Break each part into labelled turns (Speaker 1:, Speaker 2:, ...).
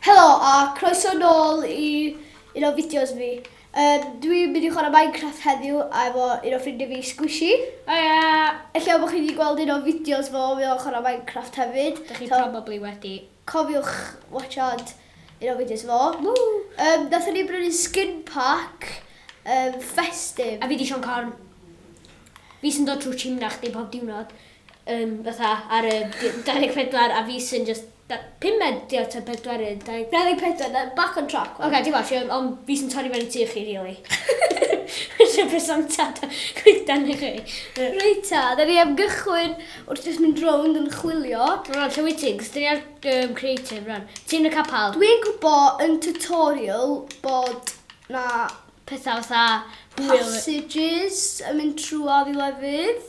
Speaker 1: Helo a croeso nôl i un o fideos fi. Um, dwi'n mynd i chwarae Minecraft heddiw a efo un o ffrindiau fi, Squishy. O ia! Ella bod chi wedi gweld un o fideos fo, mi o'n chwarae Minecraft hefyd. Dych chi so, probably wedi.
Speaker 2: Cofiwch
Speaker 1: watchad un o fideos fo. Woo! Um, Nathon ni brynu skin pack um, festive. A fi di Sean
Speaker 2: Corn. Fi sy'n dod trwy chimna chdi pob diwrnod. Um, fatha ar y 24 a fi sy'n just Da pumed di o ta pedwerydd da i. Dau ddeg pedwar da
Speaker 1: back on track wan. Oce dim ots fi ond
Speaker 2: fi sy'n torri fewn i tŷ chi rili. Ella bydd Santa da coeden i chi. Reit ta
Speaker 1: da ni am gychwyn wrth jyst mynd rownd yn chwilio. Rwan lle wyt ti? Cos
Speaker 2: da ni ar yym creative rwan. Ti yn y capal? Dwi yn gwbo yn
Speaker 1: tutorial bod na petha fatha
Speaker 2: hwyl. Passages
Speaker 1: yn mynd trwodd i lefydd.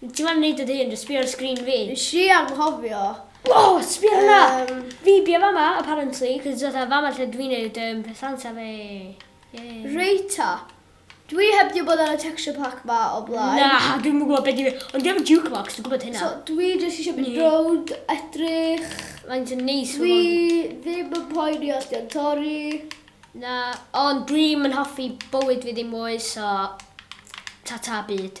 Speaker 2: Ti moyn neud o dy hun, jyst sbio ar y sgrin fi. Nes i anghofio.
Speaker 1: O! Sbia
Speaker 2: ar hwnna! Yym. Fi bia fama, apparently, cos it's fatha fama lle dwi'n neud yym petheanta fi. Yay. Reit
Speaker 1: ta. Dwi heb di bod ar y texture pack ma o blaen. Na, dwi'm yn gwbo be di
Speaker 2: fe. Ond dwi efo jukebox, dwi'n gwbod hynna. So dwi jyst isio
Speaker 1: mynd rownd, edrych. Faint yn neis
Speaker 2: ma hwn. Dwi
Speaker 1: ddim yn poeni os di o'n torri. Na,
Speaker 2: ond dwi'm yn hoffi bywyd fi ddim mwy, so ta-ta byd.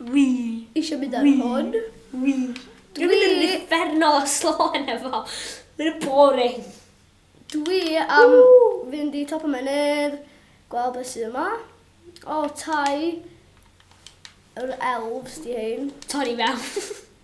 Speaker 1: Wi. Isio mynd ar hwn. Wi. Dwi
Speaker 2: mynd yn uffernol o slo heno fo. Mae'n boring. Dwi
Speaker 1: am fynd i top y mynydd, gweld beth sydd yma. O, tai yr elves di hein. Torri fewn.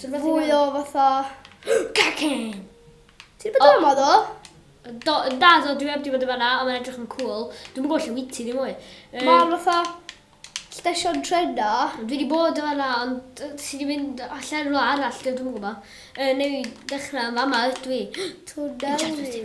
Speaker 1: Fwy o fatha... Cacen!
Speaker 2: Ti'n
Speaker 1: bod yma do? Do, da,
Speaker 2: do, dwi heb di bod yma na, ond mae'n edrych yn cool. Dwi'n gwybod lle wyt ti ddim mwy. Um, mae'n fatha
Speaker 1: stesion trena. Dwi wedi bod yma
Speaker 2: na, ond ti wedi mynd allan rhywle arall, dwi'n gwybod. Uh, neu ddechrau yn fama ydw i. Twnnel
Speaker 1: fi.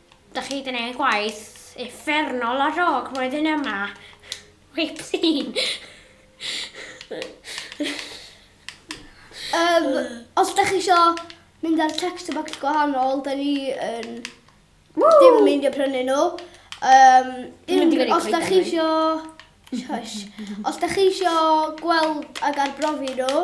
Speaker 2: Dach chi 'di neud gwaith uffernol ar ôl roedd yn yma. Wipsîn!
Speaker 1: um, os da chi isio mynd ar text box gwahanol, da ni yn... Woo! Dim yn mynd i prynu nhw. Um, un, os da chi isio... Shush. Os da chi isio gweld ag arbrofi nhw,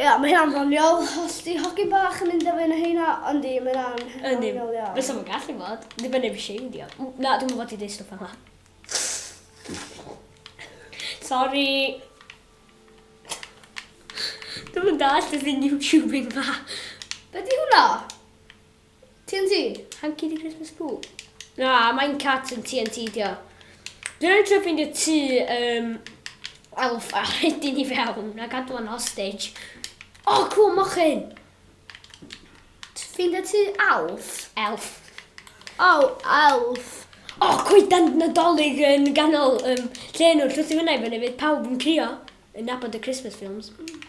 Speaker 1: Ia, mae hynna'n ddoniol. Os 'di hogyn bach yn mynd â fy nhaena, yndi, mae hynna'n ddoniol iawn. Fysa fo'n gallu bod.
Speaker 2: Dibynnu ar be shade 'di o. Na, dwi'm yn fod i deud stwff fel 'na. Sori! Dwi'm yn dallt y thing YouTubing 'ma. Be 'di hwnna?
Speaker 1: TNT! Hanci di
Speaker 2: Christmas poo. Na, mae'n cat yn TNT di o. Dwi'n rhaid trio ffeindio tu um, elf a rhaid ni fewn a gadw yn hostage. O, oh, cwl mochyn!
Speaker 1: Ffeindio tu elf? Elf.
Speaker 2: O, oh,
Speaker 1: elf. O, oh,
Speaker 2: coedan nadolig yn ganol um, lle nhw'n llwythu fyna i fyny fydd pawb yn crio yn nabod y Christmas films. Mm.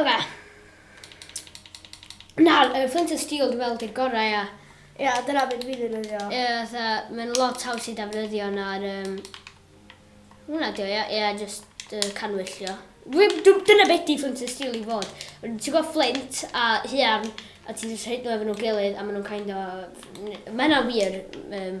Speaker 2: Oce. Nawr, y flint and steel dwi'n meddwl di'r gorau, ia. Ia, dyna beth
Speaker 1: dwi'n ddefnyddio. Ie, fatha, mae'n
Speaker 2: lot haws i defnyddio na'r... Um... Hwna dio, ia, ia, just uh, canwyllio. Dyna beth di flint and steel i fod. Ti'n gwybod flint a hiarn, a ti'n just rhaid nhw efo nhw'n gilydd, a maen nhw'n kind o... Mae yna wir... Um,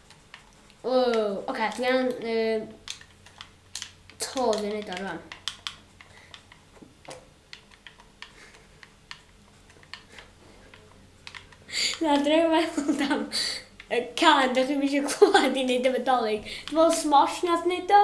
Speaker 2: Ww, oce, okay, dwi angen um, to dwi'n neud o rwan. Na, dwi'n meddwl am y can, dych chi'n eisiau clywed i wneud efo dolyg. Dwi'n meddwl Smosh nath wneud o.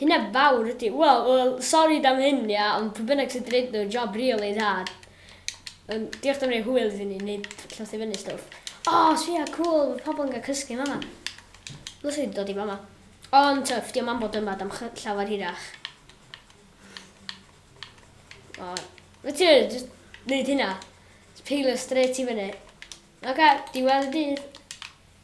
Speaker 2: Hynna fawr ydi. Wel, wel, sori am hyn, ia, ond pwy bynnag sydd 'di neud nhw, job rili dda. Yym, diolch am roi hwyl iddyn ni, neu llosgi fyny stwff. O, oh, sbia, cŵl, mae pobl yn cael cysgu yn fama. Dwi'n sy'n dod i fama. Ond tyff, diolch am bod yma, dam llawer hirach. O, mae ti wedi just neud hynna. Peilo straight i fyny. Oce, diwedd y dydd.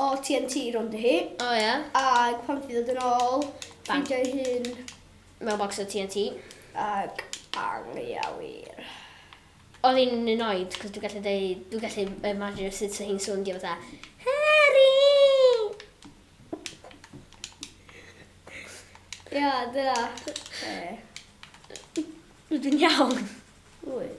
Speaker 1: O TNT rownd i hi. O ia? Ag
Speaker 2: pan nath i ddod
Speaker 1: yn ôl, ffeindio ei hun... Mewn bocs o
Speaker 2: TNT. Ag
Speaker 1: anghywir. Oedd
Speaker 2: hi'n annoyed, cos dwi'n gallu deud, dwi'n gallu imagine sut oedd hi'n sowndio fatha, Harry!
Speaker 1: Ia, dyna. Be? Rydw
Speaker 2: i'n iawn. Wyt.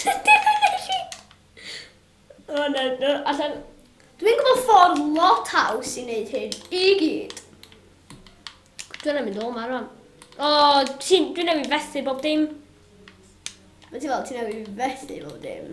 Speaker 2: Sut digwydd nes i? O na, na, allan. Dwi'n gwybod
Speaker 1: ffordd lot haws i wneud hyn i gyd.
Speaker 2: Dwi'n ei mynd ôl ma rwan. O, dwi'n ei fethu bob dim.
Speaker 1: Mae ti fel, ti'n ei fethu bob dim.